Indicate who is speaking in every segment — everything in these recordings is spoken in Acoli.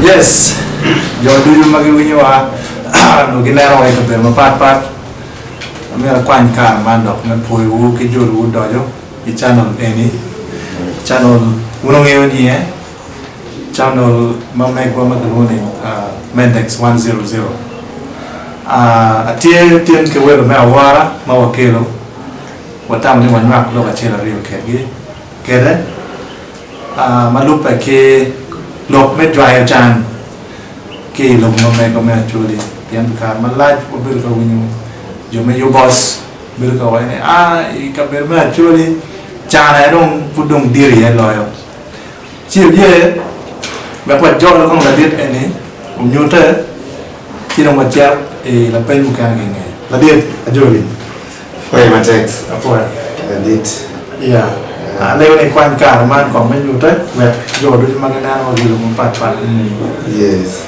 Speaker 1: Yes, jo ducu ma giwinyowa onongo gineno wa i kabedo mapat pat. Amyero akwany kare man dok me pwoyowu ki jo ducu doco i channel eni. Channel wun ongeyo ni e channel ma megwa ma kilwongo ni Mendex 100. Atye tin ki welo me awora ma wakelo, watamo ni wanywak lok acel aryo kedgi kede ma lubbe ki lok me jwayo can ki i lobo ma megwa me Acholi pien pi kare malac wabedo ka winyo jo me Yubos bedo ka waco ni, A, i kabedo me Acholi can aye dong pud dong dit iye loyo. Ci oye wek wajol kong ladit eni onyute, ci dong wacit i lapeny mukene genge. Ladit, Ajoli, apoye
Speaker 2: matek. Apoya. Ladit. Iya.
Speaker 1: Alego ni ikwany kare man kong me nyute wek jo ducu ma gineno gilub mapat pat gini. Yes.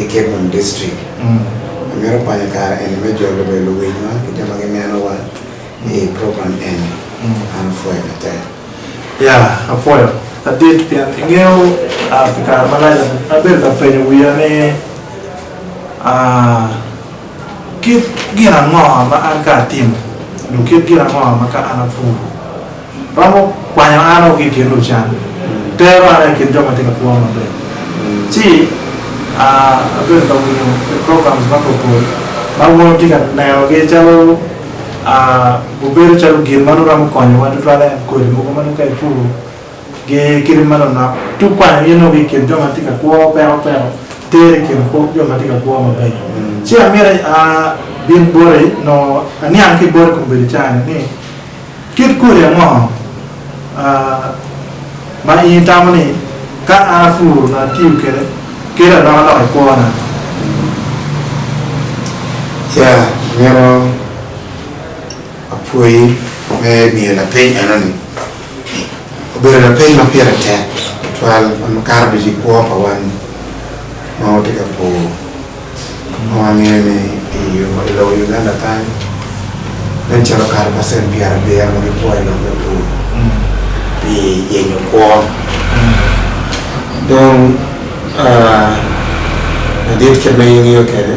Speaker 2: i Kebon District. Amito kwanyo kare eni me jolo obedo luwinyowa ki jo ma ginenowa i program eni. An apwoyo matek. Ya,
Speaker 1: apwoyo adit pien ingeyo pi kare malac abedo ka penyo wiya ni kit gin ango ma an ka atimo dok kit gin ango ma ka an apuro. Romo kwanyo an o ki i kin lucan, tero an o i kin jo ma tye ka kwo maber, ci abedo ka winyo programs mapatpat ma wun wutye ka nenogi calo gubedo calo gin ma nongo romo konyowa tutwal en kodi mogo ma nongo ka ipuro gi kit ma nonok tung kwanyo in o ki i kin jo ma tye ka kwo peko peko tero i kin jo ma tye ka kwo mabeco. Ci amyero abin boti nongo aniang ki boti kombeddi cani ni Kit kodi ango ma in itamo ni ka an apuro onongo atiyo kwede kelo alokaloka i kwona?
Speaker 2: Ya, amito apwoyi me miyo lapeny enoni. Obedo lapeny ma pire tek tutwal ma makato ducu i kwo pa wan ma watye ka pur. Onongo angeyo ni i lobo Uganda kany nen calo kato pacent pyerabiyel ma gikwo i lok me pur pi yenyo kwo. Dong madit kit ma in ingeyo kwede,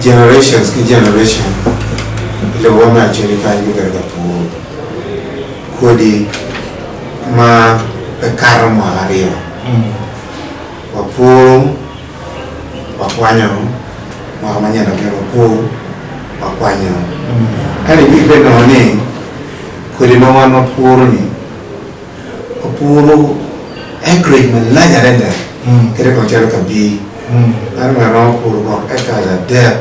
Speaker 2: generations ki generation i lobowa me Acholi kany gubedo ka puro kodi ma pe kato mwaka aryo. Wapuru, wakwanyo, mwaka manyen labyol wapur, wakwanyo. Ento iwinyo pe nongo ni kodi ma wan wapuru ni wapuru acreage malac adada kadi kong calo kabii meno mere romo puru bot acres adek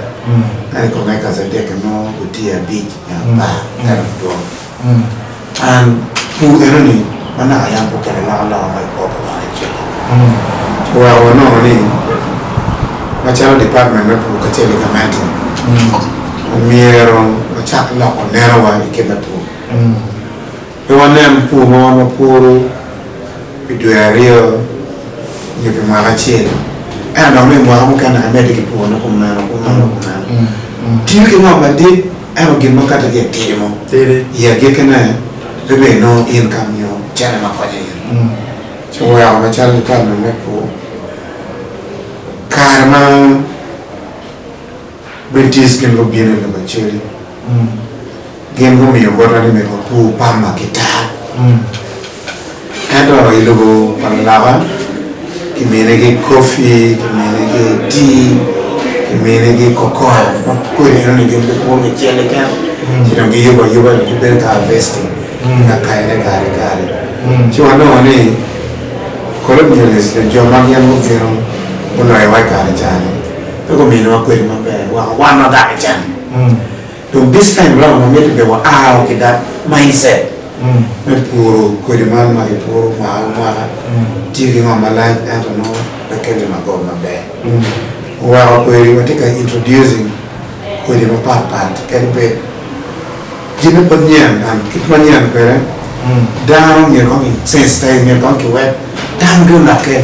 Speaker 2: kadi kong acres adek ki nongo gutye abic nyo apar ento gidwong. An pu eno ni ma naka yam pu kene loko loka ma i kor lubanga i cik-ki. Pu wa onongo ni ma calo Department me Pu kacel ki Gamente omyero wacak loko neno wa i kit me pu. Pe wa nen pu ma wan wa puru pi dwe aryo nyo pi mwaka acel ento dong me i mwaka mukene ka medde ki pu wa nyo kumeno kumeno kumeno. Tiyo ki ngo madit? Ento gin ma katti gin timo i agikkine pe bed nongo in ka miyo cente ma konyo in, ci weko macalo nital ma me pur, kare ma British gin gubino i lobo Australia, gin gumiyo botwa ni me wapur pamba ki tal. Ento i lobo pa luloka kiminigi kopi, kiminigi tii, kiminigi kokon ma kodi enoni gin gipuro gicel keken ci dong giyubo ayuba dong gibedo ka harvesting ki ka kayone gari gari. Ci wanongo ni colonialist nyo jo ma gin gubino guloyowa i kare ca-ni pe guminwa kodi maber wek wan wadakican. Dong this time round amito be wa ao ki that mind set me puro kodi man ma ki puro mwaka ki mwaka tye ki ngo malac ento nongo pe kelo magot maber. Oweko kweri watye ka introducing kodi mapat pat kadi bed gin ne pud nyen and kit ma nyen kwede dano myero kong ki sensitize myero kong ki wek. Dano bino lake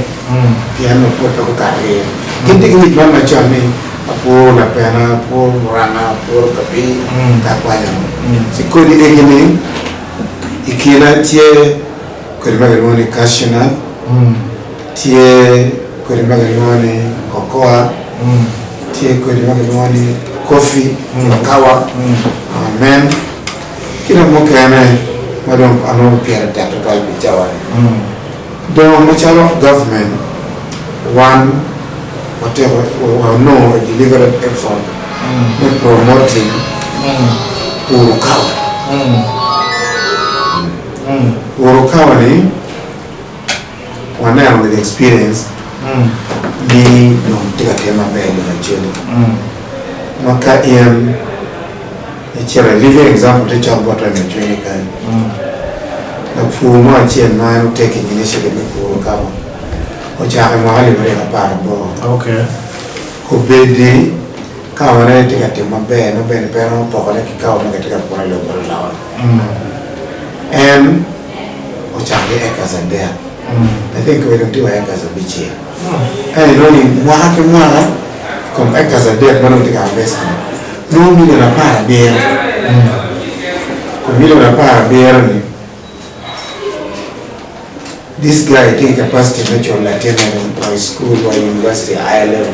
Speaker 2: pien nongo pwod pe gukato ki iye. Gin tye ki ngec man macon ni, Apworo lapena, apworo Luranga, apworo papi, pe akwanya mo. Ci kodi egi-ni i kine tye kodi ma kilwongo ni cashew nut, tye kodi ma kilwongo ni cocoa, tye kodi ma kilwongo ni coffee, kawa, mel. Ki dok mukene ma dong anongo pire tek tutwal pi cawa-ni, dong macalo gavmen wan wateko wanongo Deliberate Effort me Promoting Uru Kawa. Uru Kawa-ni waneno with experience ni dong tye ka tye maber lacen-ni ma ka in I ciro a living example tye cok bot remo cwinyi kany. Lapur mo acel ma en otake in initiative me puro kaba ocako i mwaka alip aryo ki apar aboro. Obedi kawa ne tye ka tim maber ma bene pe romo pokone ki kawa ma kitye ka puro i lobo bot loka. En ocako ki acres adek I think kebe dong tye wa acres abicel. Ka inongo ni mwaka ki mwaka compactors adek ma dong tye ka harvest-ti nongo milion apar abiro. Kun milion apar abiro-ni this guy tye ki capacity me culo latinne wa i cukul wa i univaciti, A-level.